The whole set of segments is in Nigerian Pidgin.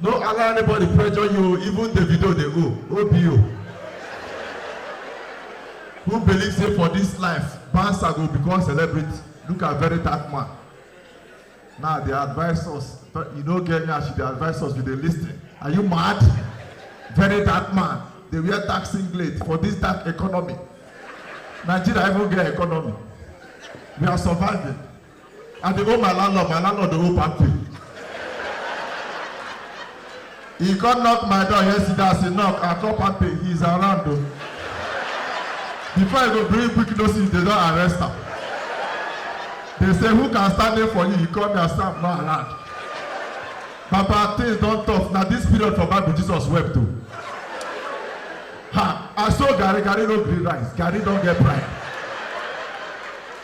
No allow anybody pressure you, even Davido dey go, OBO. Who believe say for this life, Bansa go become celebrity? Look at very dark man. Now they advise us, but you no get nyash, they advise us, we dey lis ten. Are you mad? Very dark man, dey wear dark singlet for this dark economy. Nigeria even get economy. We are surviving. I dey owe my landlord, my landlord dey owe Pampe. He come knock my door yesterday as he knock, I call Pampe, he is around o. Before he go bring quick notice, they don arrest am. They say who can stand in for you, he call me, I say I'm not around. Baba things don tough, na this period for Bible Jesus wept o. Ha, I saw Gary, Gary no gree rise, Gary don get pride.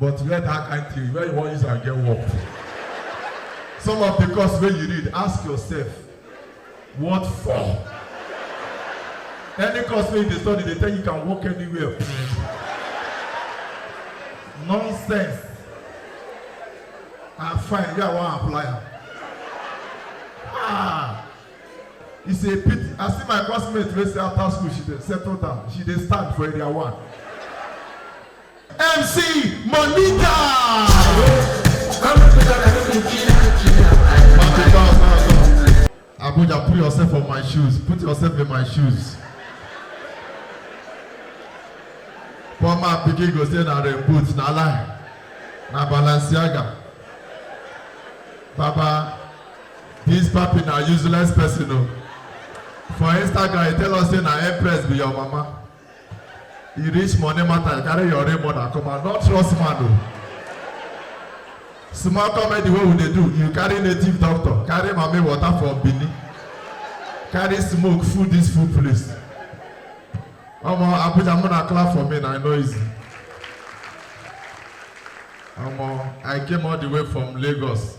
But to get that kind theory, where you wan use am get work? Some of the course wey you read, ask yourself, what for? Any course wey you dey study, dey tell you can work anywhere. Nonsense. I'm fine, yeah, I wan apply am. Ah! It's a pity. I see my classmate wey say after school she dey settle down, she dey stand for area one. MC Monica. Abuja, put yourself on my shoes. Put yourself in my shoes. Poor man pikin go say na rain boot, na lie. Na Balenciaga. Baba, this papi na useless person o. For Instagram, he tell us say na Empress be your mama. E reach money matter, you carry your real mother come out. Not trust man o. Small comedy wey we dey do, you carry native doctor, carry mami water from Benin, carry smoke full this full place. Omo Abuja muna clap for me na e no easy. Omo I came all the way from Lagos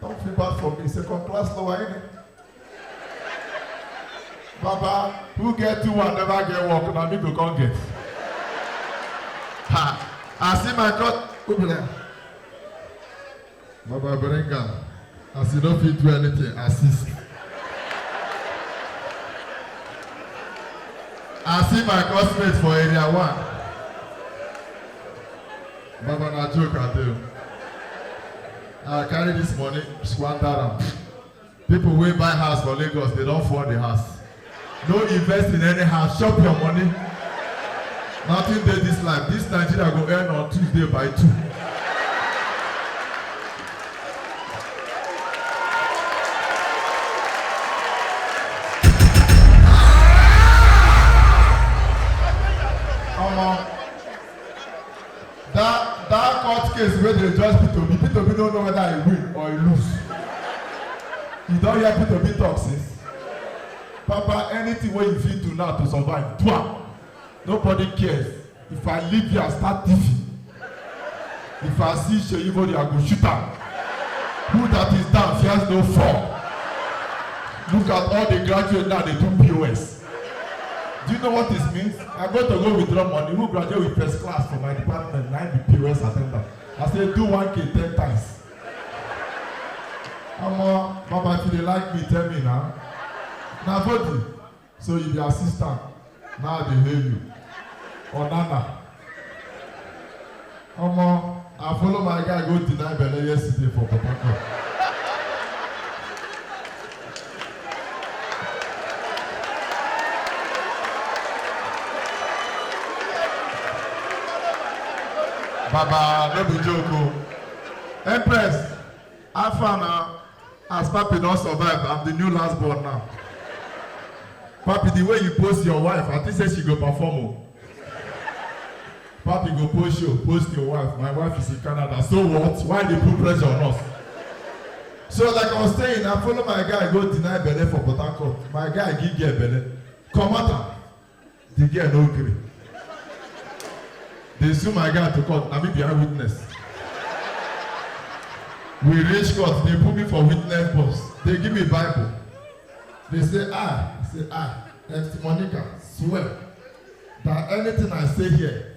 Don't feel bad for me, second class lower ain't it? Baba, who get two and never get work, na me go come get. Ha! I see my God. Who be like, Baba bring am. As you no fit do anything, assist. I see my classmate for area one. Baba na joke I do. I carry this money, squander am. People wey buy house for Lagos, they don fall the house. No invest in any house, chop your money. Nothing dey this life. This Nigeria go end on Tuesday by two. That that court case wey dey judge Peter Obi, Peter Obi no know whether he win or he lose. You don hear Peter Obi talk since? Papa, anything wey you fit do now to survive, do am. Nobody cares. If I leave here, I start thiefing. If I see Seyi Bode, I go shoot am. Who that is down fears no fall. Look at all the graduates now, they do POS. Do you know what this means? I'm going to go withdraw money. Who graduate with first class from my department? Now the POS attendant. I say do one k ten times. Omo, Baba, if you dey like me, tell me now. Na body, so you be assistant. Now I dey hail you. Onana. Omo, I follow my guy go deny belle yesterday for Port Harcourt. Baba, no be joke o. Empress, How far na as papi don survive I'm the new last born now papi the way you post your wife I think say she go perform o papi go post show post your wife my wife is in Canada so what why you dey put pressure on us so like I was saying I follow my guy go deny belle for Port Harcourt my guy give girl belle comot am The girl no gree. They sue my guy to court. Na me be eyewitness. We reach court. They put me for witness box. They give me Bible. They say, I, say, I, Esther Monica, swear that anything I say here,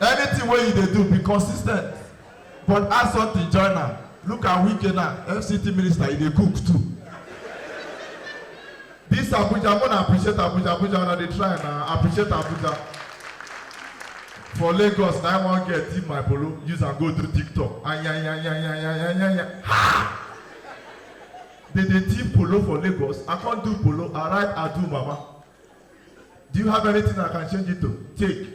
Anything wey you dey do, be consis ten t but add something join am. Look at Wike now, FCT minister, e dey cook too. This Abuja, una appreciate Abuja, Abuja una dey try na, appreciate Abuja. For Lagos, na I wan get thief my polo, use am go do TikTok. Ayanyanyanyanyanyanya. Ha! They dey thief polo for Lagos, I come do polo, I write Adu Mama. Do you have anything I can change it to? Take.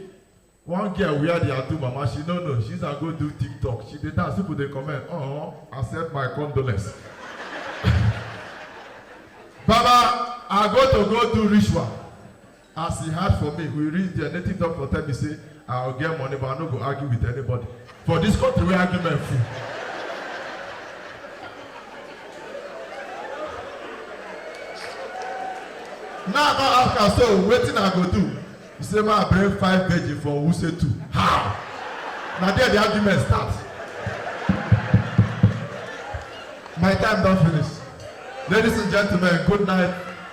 One girl wear the Atu mama, she no know. She's a go do TikTok. She dey dance, people dey comment. Oh, accept my condolence. Baba, I go to go do ritual. As he hard for me, we reach there. Native doctor tell me say, I go get money but I no go argue with anybody for this country wey argument full. Now I come ask am so wetin I go do? He say make I bring five virgin for Wuse too. How? Na there the argument start. My time don finish. Ladies and gentlemen, good night.